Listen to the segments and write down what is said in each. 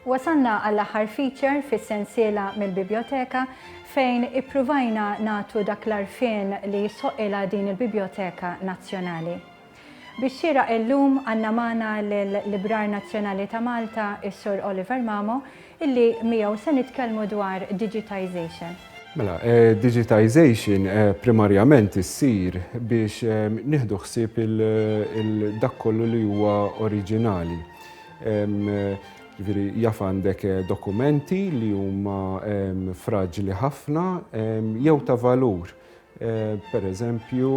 Wasalna għall-aħħar feature fis-sensiela mill-biblioteka fejn ippruvajna nagħtu dak l-għarfien li jisħoqilha din il-Biblioteka Nazzjonali. Bix-xieraq illum għandna magħna lill-Librar Nazzjonali ta' Malta, is-Sur Oliver Mamo, illi miegħu se nitkellmu dwar digitisation. Mela, digitisation primarjament issir biex nieħdu ħsieb dak kollu li huwa oriġinali. Jiġifieri jaf għandek dokumenti li huma fraġli ħafna jew ta' valur. Per eżempju,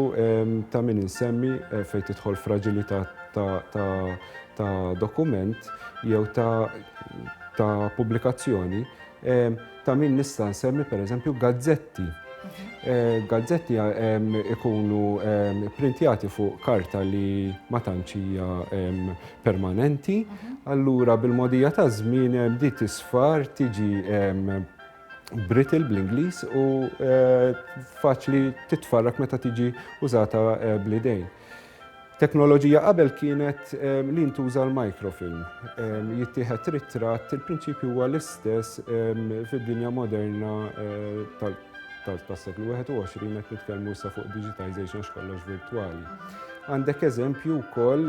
ta' min insemmi fejn tidħol fraġilità ta' dokument jew ta' pubblikazzjoni, ta' min nista' nsemmi per eżempju gazzetti. Gazzetti ikunu pprintjati fuq karta li ma tantx hija permanenti, allura bil-mogħdija taż-żmien din tisfar, tiġi brittle bl-Ingliż u faċli titfarrak meta tiġi użata bl-idejn. Teknoloġija qabel kienet li ntuża l-microfilm. Jittieħed ritratt, il-prinċipju huwa l-istess fid-dinja moderna tal-seklu 21 qed nitkellmu sa fuq digitization x'kollox virtwali. Għandek eżempju wkoll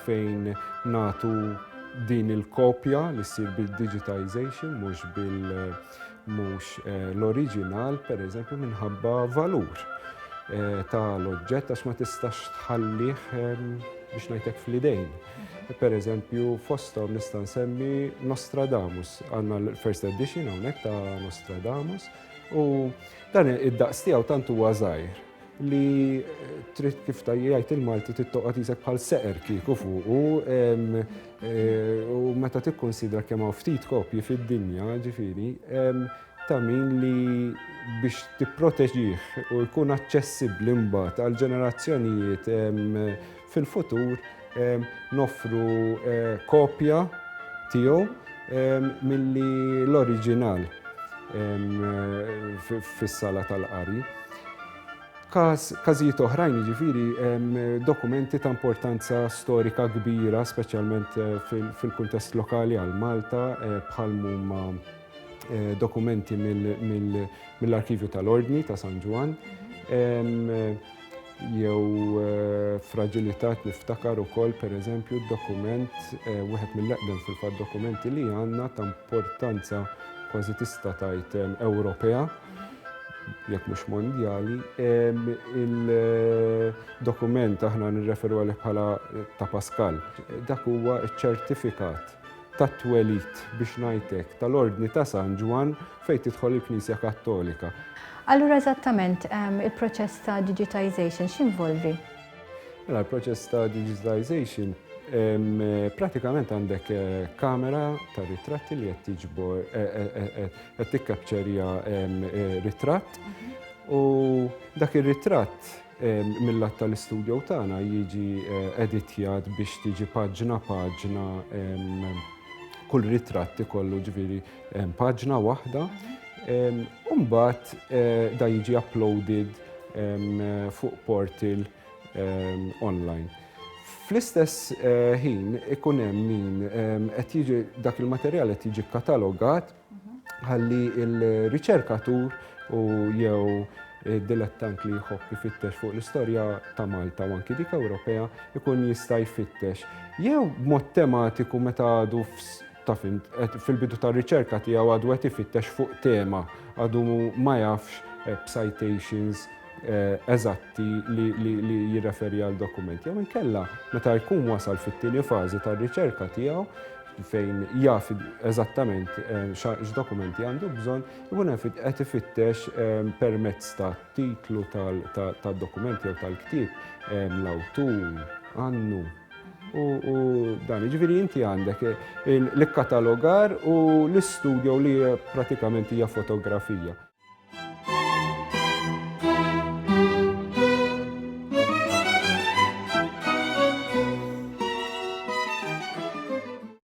fejn natu Din il-kopja li ssir bid-digitization mhux bil mhux eh, l-oriġinal pereżempju minħabba valur eh, tal-oġġett għax ma tistax tħallih eh, biex ngħidlek fl-idejn. Per eżempju, fostom nista' nsemmi Nostradamus, għandna l-first edition hawnhekk ta' Nostradamus, u dan id-daqs tiegħu tant huwa żgħir li trid kif tajjajt il-Malti tittoqgħod isek bħal seqer kieku fuqu eh, u meta tikkonsidra kemm hawn ftit kopji fid-dinja ġifieri ta' min li biex tipproteġih u jkun aċċessibbli mbagħad għal ġenerazzjonijiet Fil-futur noffru kopja tiegħu milli l-oriġinal fis-sala tal-qari. Każ, każijiet oħrajn jiġifieri dokumenti ta' importanza storika kbira, speċjalment fil-kuntest lokali għal Malta, bħal mhuma dokumenti mill-Arkivju tal-Ordni ta' San Ġwann, jew eh, fragilitat niftakar ukoll pereżempju d-dokument eh, wieħed mill-eqdem fil-fatt dokumenti li għandna ta' importanza kważi tista' tajt eh, Ewropea jekk mhux mondjali, il-dokument aħna nirreferu għalih bħala ta' Pascal. Dak huwa ċ-ċertifikat tat-twelid, biex ngħid hekk, tal-Ordni ta' San Ġwann fejn tidħol il-Knisja Kattolika. Allura eżattament il-proċess ta' digitisation x'jinvolvi? Mela l-proċess ta' digitisation pratikament għandek eh, kamera ta' ritratti li qed tiġbor eh, eh, qed ritratt mhm. u dak ir-ritratt Mil-lat tal-istudjow tagħna jiġi editjat biex tiġi paġna paġna kull ritratt ikollu ġifieri paġna waħda. U mbagħad da jiġi uploaded fuq portal online. Fl-istess ħin ikun hemm min qed jiġi dak il-materjal qed jiġi katalogat ħalli l-riċerkatur u jew dilettant li jħobb ifittex fuq l-istorja ta' Malta u anki dik Ewropea ikun jista' jfittex. Jew mod tematiku meta għadu fil-bidu ta' riċerka tiegħu għadu qed ifittex fuq tema, għadu ma jafx eh, b'citations eh, eżatti li jirreferi għal dokument. Jew inkella meta jkun wasal fit-tieni fażi tar-riċerka tiegħu fejn jaf eżattament eh, x'dokumenti għandu bżonn, ikun hemm qed ifittex eh, permezz ta' titlu tad-dokument jew tal-ktieb eh, l-awtur, għannu. U dan, ġviri inti għandek l-katalogar u l-istudio li pratikament hija fotografija.